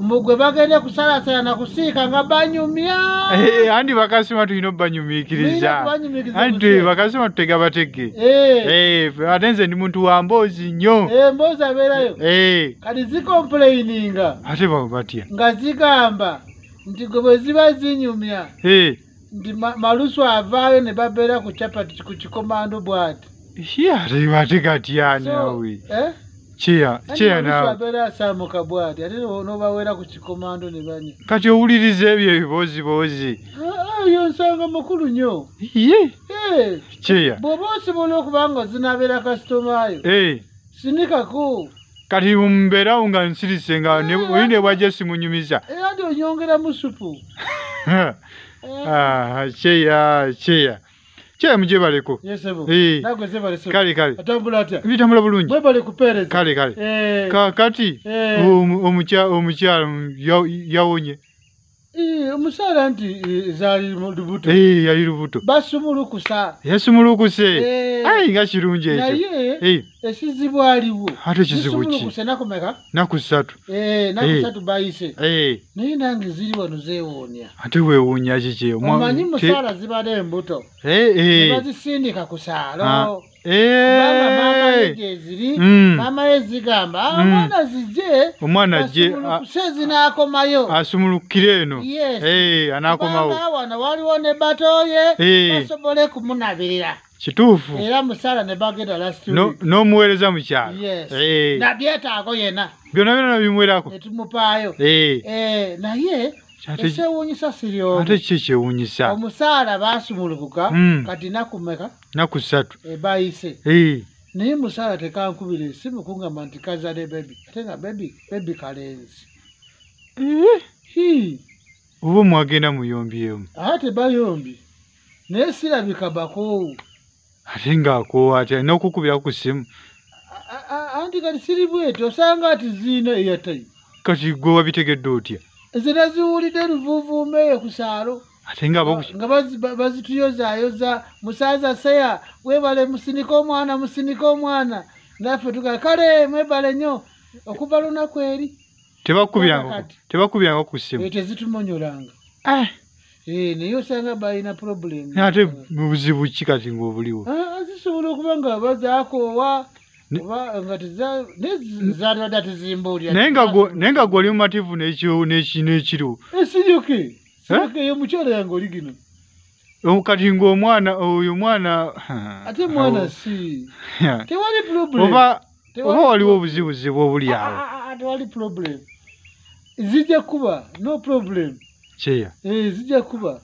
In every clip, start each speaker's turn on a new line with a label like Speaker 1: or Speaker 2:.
Speaker 1: mbu gwe bagende kusalasala na kusiika nga banyumya eh, eh, andi
Speaker 2: bakasima tulina obanyumikiriza anti eh, bakasima tutega batege ate nze ndi muntu wa mboozi nnyo emboozi abeerayo
Speaker 1: kati zikompulayininga ate batya
Speaker 2: nga zigamba
Speaker 1: nti gwe bwe ziba zinyumya ndi ma- malusu avaayo ne babeera ku chapati ku kikomando bwati Shia tibati
Speaker 2: katya nawe. eh? Chia, Anti chia malusu nawe. abeera asaamuka
Speaker 1: bwati ate no- nobaweera ku kikomando ne banya Kati owuliriza ebyo
Speaker 2: ebibooziboozi. Ah, ah, yo
Speaker 1: nsanga mukulu nnyo Ye, Eh,
Speaker 2: chia. bw'oba osobola
Speaker 1: okuba nga ozinabeera kasitomayo Eh, sinika ku kati
Speaker 2: mbeerawo nga nsirise nga oli ne bwajja simunyumiza era ndi onyongera
Speaker 1: mu supu
Speaker 2: kyeya kyeya kyeya mujebaleko
Speaker 1: kale kale
Speaker 2: bitambula
Speaker 1: bulungi
Speaker 2: kale
Speaker 1: kale
Speaker 2: kakati omukyalo yawonye
Speaker 1: omusaala nti zali lubuto yali lubuto
Speaker 2: basumulukusa
Speaker 1: yasumulukuse
Speaker 2: ayi nga kirungi ekyo naye
Speaker 1: ekizibu aliwo ate kizibu ki
Speaker 2: nakumeka
Speaker 1: nakusatu
Speaker 2: nakusatu
Speaker 1: bayise naye nange ziri wano zewuunya ate wewuunya
Speaker 2: kiki omanyi musaala
Speaker 1: zibade embuto bazisindika ku saalo ah. kubanga maama ye gyeziri mm. maama ye zigamba ah, mm. omwana zije omwana ajje
Speaker 2: kusezi
Speaker 1: n'akomayo asumulukire eno
Speaker 2: anaakomawo wano waliwo
Speaker 1: ne batoye basobole kumunabirira kituufu era
Speaker 2: musaala ne
Speaker 1: bagenda n'omuweereza mukyalo
Speaker 2: nabyetaago
Speaker 1: yena byona byona nabimuwerako
Speaker 2: netumupaayo
Speaker 1: naye ekyewunyisa siryomu ate ki ekyewunyisa
Speaker 2: omusaala
Speaker 1: baasumulukuka hmm. kati nakumeka naku satu
Speaker 2: ebayise eh.
Speaker 1: naye musaala tekankubira esimu kungamba nti kazale bebi ate nga bebi bebi kalenzi eh.
Speaker 2: oba mwagenda muyombyemu aa tebayombye
Speaker 1: naye sirabika bakoowu ate
Speaker 2: ngaakoowa atya alina okukubira ku simu
Speaker 1: anti kati siri bweti osanga ati ziina eyatayi kati gwe
Speaker 2: wabitegedde otya zinaziwulidde
Speaker 1: luvuuvuumeeyo ku saalo ate nga nga
Speaker 2: bazituyozayoza
Speaker 1: musaaza seya webale musinike omwana musinike omwana naffe tuga kale mwebale nnyo okuva lunaku eri tebakubiranga
Speaker 2: kusimu eh, tezitumonyolanga
Speaker 1: eh. Eh, naye osanga balina problemu ate buzibu
Speaker 2: ki kati ngaobuliwo ah, zisobola okuba
Speaker 1: nga bazakoowa naye nga gwoli mumativu
Speaker 2: nekiriwo esiyoke
Speaker 1: Sireka eyo mukyala yange oli gino. Oh, kati
Speaker 2: ng'omwana oyo oh, mwana ate mwana
Speaker 1: oh. si tewali problem oba oba
Speaker 2: waliwo obuzibuzibu obuli ah, awo ah, ah, tewali problem
Speaker 1: zijja kuba no problem kyeya eh,
Speaker 2: zijja kuba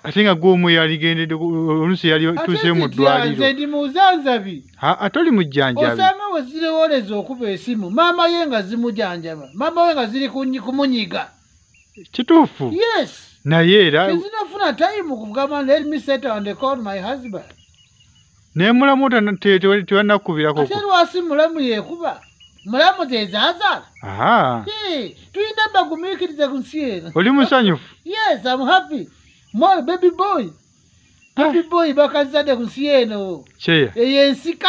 Speaker 1: ate nga
Speaker 2: gwomu yaligendedde olusi yali tuuse mu ddwaliro ndi muzanzabi
Speaker 1: atoli
Speaker 2: mujjanjabi osanga we zirowoleza
Speaker 1: okuba esimu maama ye nga zimujanjaba maama we nga ziri kumunyiga kituufu
Speaker 2: yes
Speaker 1: naye era
Speaker 2: tezinafuna time
Speaker 1: kugamba let me settle and call my husband naye
Speaker 2: mulamu tewanakubirako ate lwasi
Speaker 1: mulamu yekuba mulamu zezaazala tulina bagumiikirize ku nsi eno oli musanyufu
Speaker 2: yes am happy
Speaker 1: mol baby boy baby ah. boy bakazade ku nsi eno eyo ensika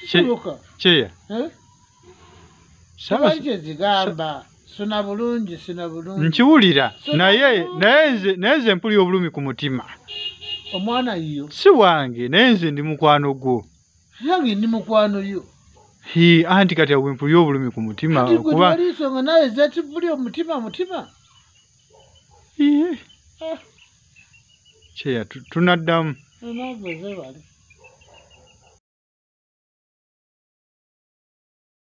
Speaker 1: kisoboka kyeya eh? kyezigaamba suna bulungi sina bulungi nkiwulira
Speaker 2: naye naye nze naye nze mpulira obulumi ku mutima omwana
Speaker 1: yo si wange naye
Speaker 2: nze ndi mukwano gwo nange ndi
Speaker 1: mukwano yo hi anti
Speaker 2: kati awe mpulira obulumi ku mutima kuba nsonga
Speaker 1: naye zekivuli omutima mutima
Speaker 2: iye ah. kyeya
Speaker 1: tunaddamu